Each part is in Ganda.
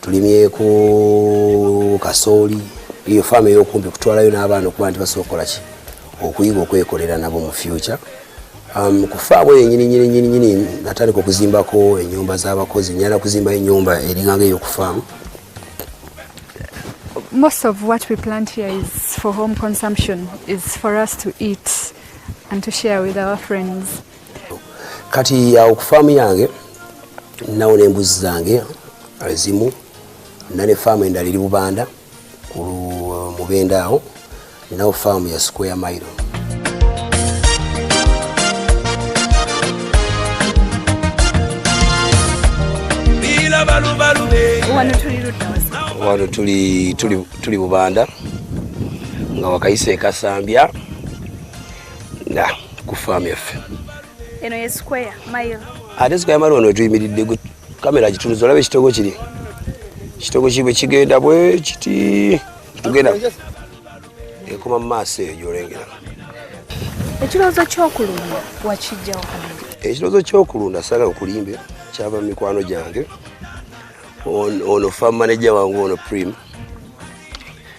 tulimyeko kasooli eyo faamu eyokumpi kutwalayo n'abaana okuba nti basobola okukolaki okuyiga okwekolera nabo mu fyuca um, ku faamu eyo nyininyininyininyini natandika okuzimbako enyumba z'abakozi nyala kuzimbayo enyumba eringanga eyo ku faamu most of what we plant here is for home consumption is for us to eat and to share with our friends kati awo ku faamu yange nawo n'embuzi zange ezimu na ne faamu endala eri bubanda ku mubenda awo nawo faamu ya square mile wano tuli bubanda nga wakayise ekasambya na ku faamu yaffe eno ye square mile ate square mile wano wetuyimiridde gwe kamera gitunuza olaba ekitogo kiri ekitogo kibwe kigenda bwe kiti tugenda ekoma mu maaso eyo gyolengera ekirowoozo kyokulunda wakijjawo ekirowoozo kyokulunda sagala okulimbe kyava mu mikwano gyange ono fam manager wange ono prime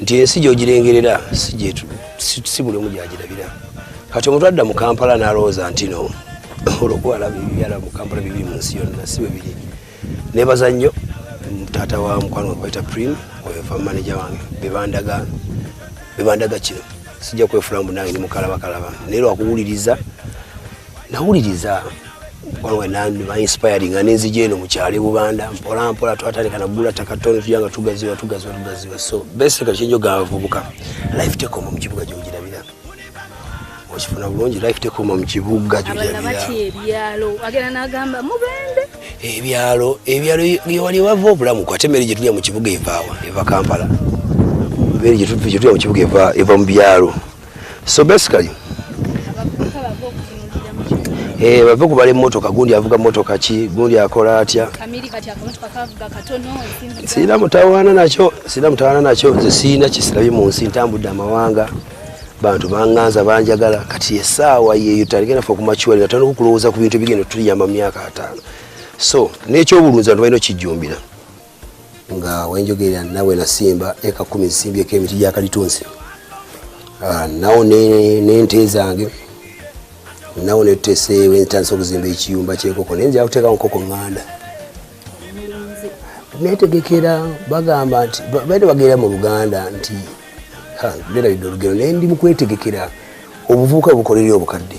nti ensi gyogirengerera si buli omu gyagirabira kati omuntu adda mu kampala nalowooza ntino olwokubalaba ebibyala mu kampala bibiri mu nsi yonna si bwebiri nebaza nnyo taata wa mukwano wekwayita prim oyofa manaja wange bebandaga kino sijja kwefula mbu nange ndi mukalabakalaba naye lwakuwuliriza nawuliriza wange nandiba inspiring nga nenzija eno mukyali bubanda mpola mpola twatandika nagula takatoni tuja nga tugaziwa tugaziwa tugaziwa so basically kyenjoga abavubuka life take home mu kibuga gyogirabira okifuna bulungi life take home mu kibuga ebyalo ebyalo yewali wava obulamu kwate emere gyetulya mu kibuga evaawa eva kampala emere gyetulya mu kibuga eva mu byalo so basically eh bave kubale motoka gundi avuga motoka ki gundi akola atya kamili kati akamotoka kavuga katono sina mutawana nacho sina mutawana nacho nze sina kisilabi mu nsi ntambudde amawanga bantu banganza banjagala kati esaawa yeyo taligenda fe okumakiwali nga tulina okukulowooza ku bintu ebigenda tuliyamba mu myaka ataano so n'ekyobulunzi bantu balina okijjumbira nga wenjogerera nawe nasimba eka kumi nsimbyeko emiti gya kalitunsi ah, nawo nente zange nawo netuteseewo entandisa okuzimba ekiyumba kyenkoko naye nzira kuteekawo nkoko ŋŋanda netegekera bagamba nti baire bagenda mu luganda nti nerabidde olugero naye ndi mukwetegekera obuvubuka bukolerera obukadde